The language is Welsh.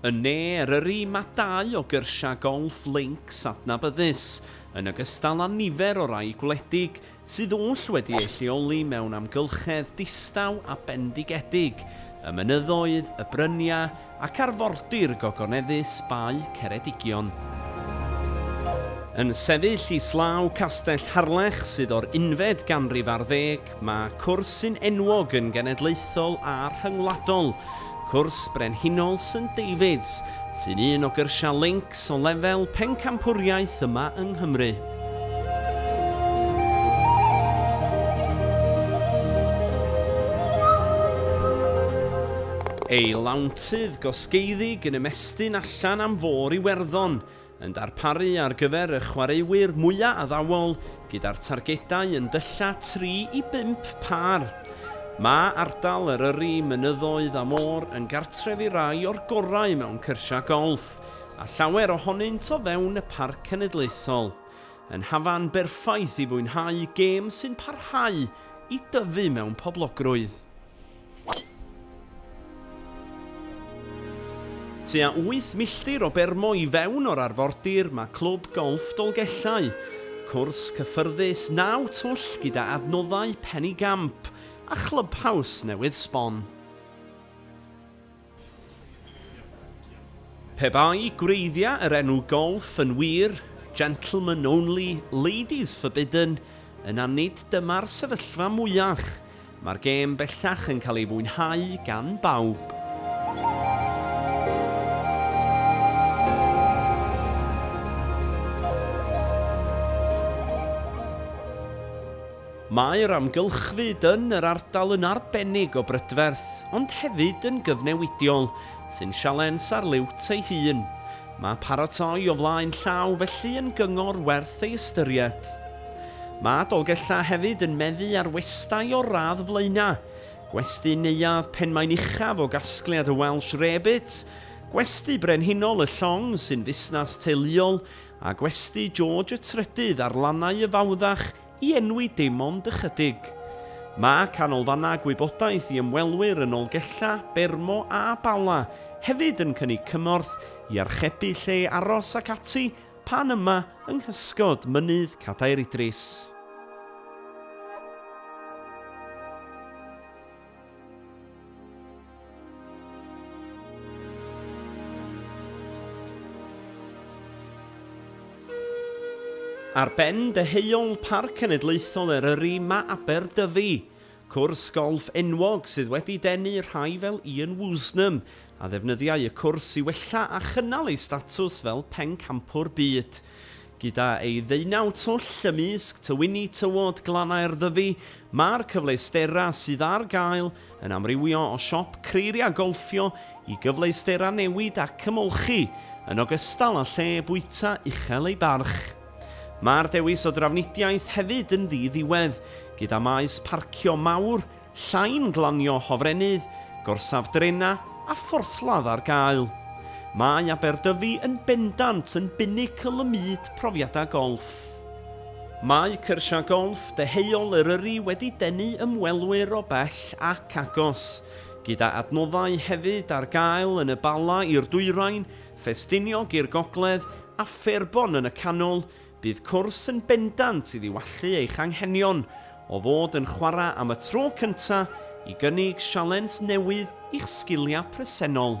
Yn Ne Eryri mae dau o gyrsiau golff links adnabyddus, yn ogystal â nifer o rai gwledig, sydd oll wedi eu lleoli mewn amgylchedd distaw a bendigedig, y mynyddoedd, y bryniau ac arfordir gogoneddus Bae Ceredigion. Yn sefyll islaw Castell Harlech sydd o'r unfed ganrif ar ddeg, Mae cwrs sy'n enwog yn genedlaethol a rhyngwladol, Cwrs Brenhinol St Davids, sy'n un o gyrsiau Links o lefel pencampwriaeth yma yng Nghymru. Ei lawntydd gosgeiddig yn ymestyn allan am Fôr Iwerddon, yn darparu ar gyfer y chwaraewyr mwya' addawol gyda'r targedau yn dylla' tri i bump pâr. Mae ardal Eryri, mynyddoedd a môr yn gartref i rai o'r gorau mewn cyrsiau golff, a llawer ohonynt o fewn y Parc Cenedlaethol. Yn hafan berffaith i fwynhau gêm sy'n parhau i dyfu mewn poblogrwydd. Tua wyth milltir o Bermo i fewn o'r arfordir mae Clwb Golff Dolgellau, cwrs cyffyrddus naw twll gyda adnoddau Pen-y-gamp a chlybhaws newydd sbon. Pe bai gwreiddiau yr enw golff yn wir, gentlemen only, ladies forbidden, yna nid dyma'r sefyllfa mwyach. Mae'r gêm bellach yn cael ei fwynhau gan bawb. Mae'r amgylchfyd yn yr ardal yn arbennig o brydferth, ond hefyd yn gyfnewidiol, sy'n sialens ar liwt ei hun. Mae paratoi o flaen llaw felly yn gyngor werth ei ystyried. Mae Dolgellau hefyd yn meddu ar westai o'r radd flaenau, Gwesty Neuadd Penmaen Uchaf o gasgliad y Welsh Rarebit, Gwesty Brenhinol y Llong sy'n fusnes teuluol, a Gwesty George y Trydydd ar lannau y Fawddach, I enwi dim ond ychydig. Mae canolfannau gwybodaeth i ymwelwyr yn Nolgella, Bermo a Bala hefyd yn cynnig cymorth i archebu lle aros ac ati pan yma yng nghysgod Mynydd Cadair Idris. Ar ben deheuol Parc Cenedlaethol Eryri mae Aberdyfi, cwrs golff enwog sydd wedi denu rhai fel Ian Woosnam, a ddefnyddiai y cwrs i wella a chynnal ei statws fel pencampwr byd. Gyda ei ddeunaw twll ymysg tywynni tywod glannau'r Ddyfi, mae'r cyfleusterau sydd ar gael yn amrywio o siop creiriau golffio i gyfleusterau newid ac ymolchi, yn ogystal â lle bwyta uchel ei barch. Mae'r dewis o drafnidiaeth hefyd yn ddi-ddiwedd, gyda maes parcio mawr Llain glanio hofrennydd, gorsaf drenau a phorthladd ar gael. Mae Aberdyfi yn bendant yn binacl ym myd profiadau golff. Mae cyrsiau golff deheuol Eryri wedi denu ymwelwyr o bell ac agos, gyda adnoddau hefyd ar gael yn y Bala i'r dwyrain, Ffestiniog i'r gogledd a Fairbon yn y canol, Bydd cwrs yn bendant i ddiwallu eich anghenion o fod yn chwarae am y tro cyntaf i gynnig sialens newydd i'ch sgiliau presennol.